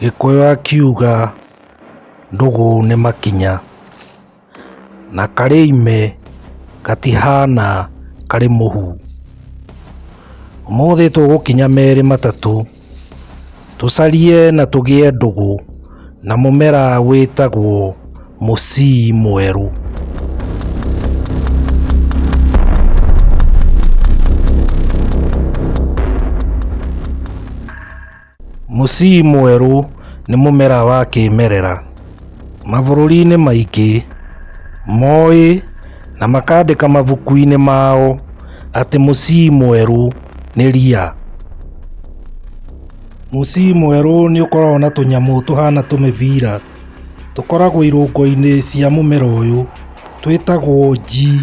Gĩkũyũ akiuga ndũgũ nĩ makinya na karĩ ime gatihana karĩ mũhu. Ũmũthĩ tũgũkinya merĩ matatũ. Tũcarie na tũgĩe ndũgũ na mũmera wĩtagwo mũcii mwerũ. Mũcii mwerũ nĩ mũmera wa kĩmerera. Mabũrũri-inĩ maingĩ moĩ. Na makaandĩka mabuku-inĩ mao atĩ mũcii mwerũ nĩ ria. Mũcii mwerũ nĩ ũkoragwo na tũnyamũ tũhana tũmĩbira, tũkoragwo irũngo-inĩ cia mũmera ũyũ, twĩtagwo njii.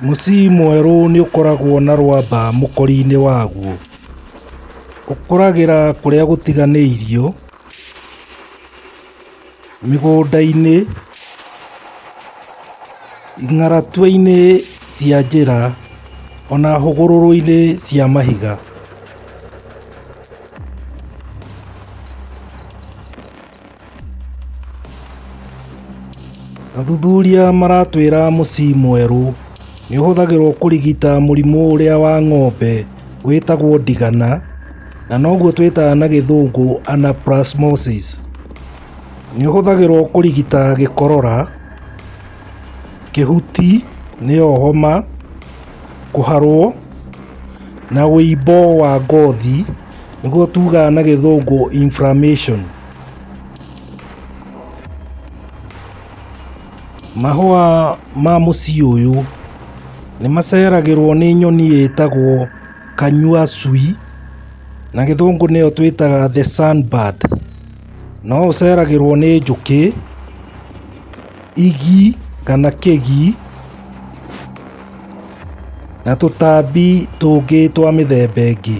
Mũciĩ mwerũ nĩ ũkoragwo na rwamba mũkori-inĩ waguo. Ũkũragĩra kũrĩa gũtiganĩirio, mĩgũnda-inĩ, ng'aratwe-inĩ cia njĩra, ona hũgũrũrũ-inĩ cia mahiga. Athuthuria maratwĩra mũci mwerũ nĩ ũhũthagĩrwo kũrigita mũrimũ ũrĩa wa ng'ombe wĩtagwo ndigana na noguo twĩtaga na gĩthũngũ anaplasmosis. Nĩ ũhũthagĩrwo kũrigita gĩkorora, kĩhuti nĩyo homa, kũharwo na ũimbo wa ngothi. nĩguo tugaga na gĩthũngũ inflammation. Mahũa ma mũciĩ ũyũ nĩ maceragĩrwo nĩ nyoni ĩtagwo kanyua cui na gĩthũngũ nĩyo twĩtaga the sun bird no ũceragĩrwo nĩ njũkĩ. igi kana kĩgi na tũtambi tũngĩ twa mĩthemba ĩngĩ.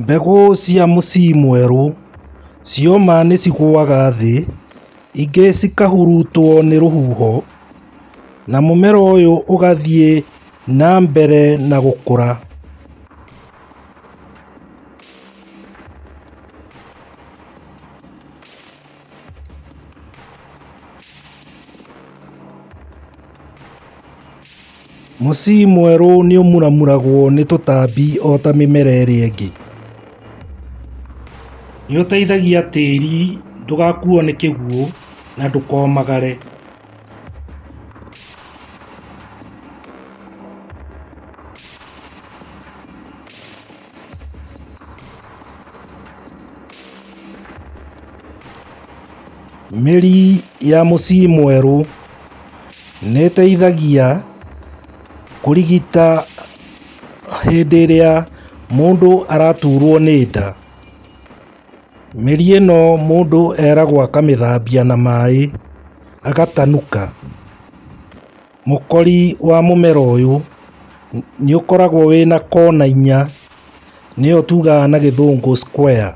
Mbegũ cia mũci mwerũ cioma nĩ cigũaga thĩ, ingĩ cikahurutwo nĩ rũhuho na mũmera ũyũ ũgathiĩ na mbere na gũkũra. Mũci mwerũ nĩũmuramuragwo nĩ tũtambi ota mĩmera ĩrĩa ĩngĩ. Nĩũteithagia tĩri ndũgakuo nĩ kĩguũ na ndũkomagare. Mĩri ya mũciĩ mwerũ nĩteithagia kũrigita hĩndĩ ĩrĩa mũndũ araturwo nĩ nda. Mĩri ĩno mũndũ eragwo akamĩthambia na maĩ agatanuka. Mũkori wa mũmera ũyũ nĩ ũkoragwo wĩna kona inya, nĩyo tugaga na gĩthũngũ square.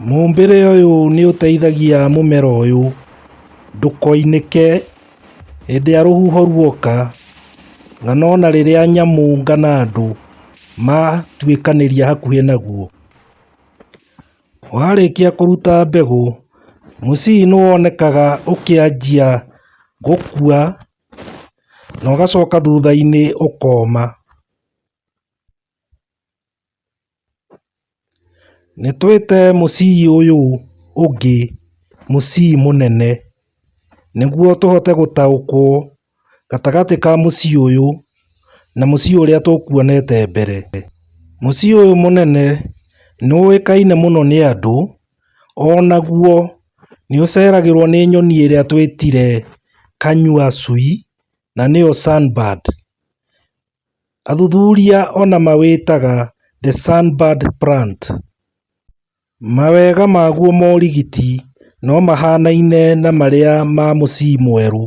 Mũmbĩre ũyũ nĩ ũteithagia mũmera ũyũ ndũkoinĩke hĩndĩ ĩrĩa rũhuho ruoka, kana ona rĩrĩa nyamũ kana andũ matuĩkanĩria hakuhĩ naguo. Warĩkia kũruta mbegũ, mũcii nĩ wonekaga ũkĩanjia gũkua na ũgacoka thutha-inĩ ũkoma. Nĩ twĩte mũcii ũyũ ũngĩ mũcii mũnene nĩguo tũhote gũtaũkwo. gatagatĩ ka mũciĩ ũyũ na mũciĩ ũrĩa tũkuonete mbere. Mũciĩ ũyũ mũnene nĩ ũĩkaine mũno nĩ andũ, o naguo nĩ ũceragĩrũo nĩ nyoni ĩrĩa twĩtire kanyua cui na nĩyo sunbird. Athuthuria ona mawĩtaga the sunbird plant. Mawega maguo morigiti no mahanaine na marĩa ma mũcii mwerũ.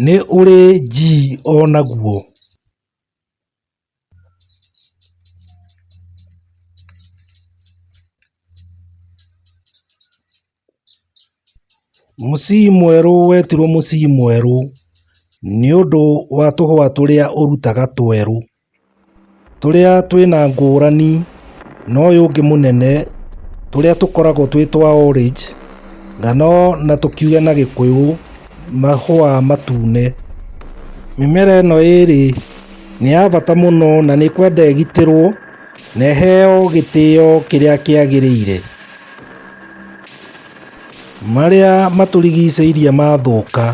Nĩ ũrĩ G onaguo. Mũciĩ mwerũ wetirwo mũciĩ mwerũ nĩ ũndũ wa tũhũa tũrĩa ũrutaga twerũ, tũrĩa twĩna ngũrani na ũyũ ũngĩ mũnene, tũrĩa tũkoragwo twĩ twa orange kana o na tũkiuge na gĩkũyũ mahũa matune. Mĩmera ĩno ĩrĩ nĩ ya bata mũno na nĩ kwenda ĩgitĩrwo na ĩheo gĩtĩo kĩrĩa kĩagĩrĩire. Marĩa matũrigicĩirie mathũka,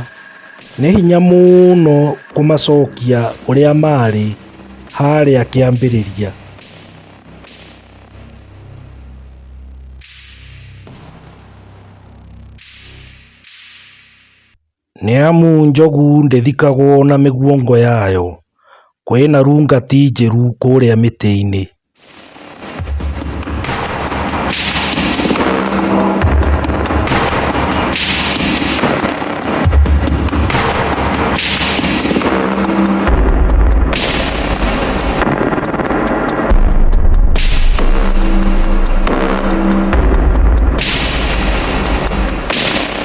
nĩ hinya mũno kũmacokia ũrĩa maarĩ harĩa kĩambĩrĩria. Nĩamu njogu ndĩthikagwo na mĩguongo yayo, kwĩna rungati njĩru kũrĩa mĩtĩ-inĩ.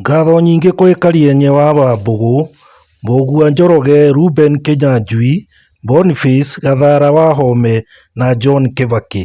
Ngatho nyingĩ kwĩ Karianyi wa Wambũgũ, Mbũgua Njoroge, Reuben Kĩnyanjui, Boniface Gathara Wahome na John Kibaki.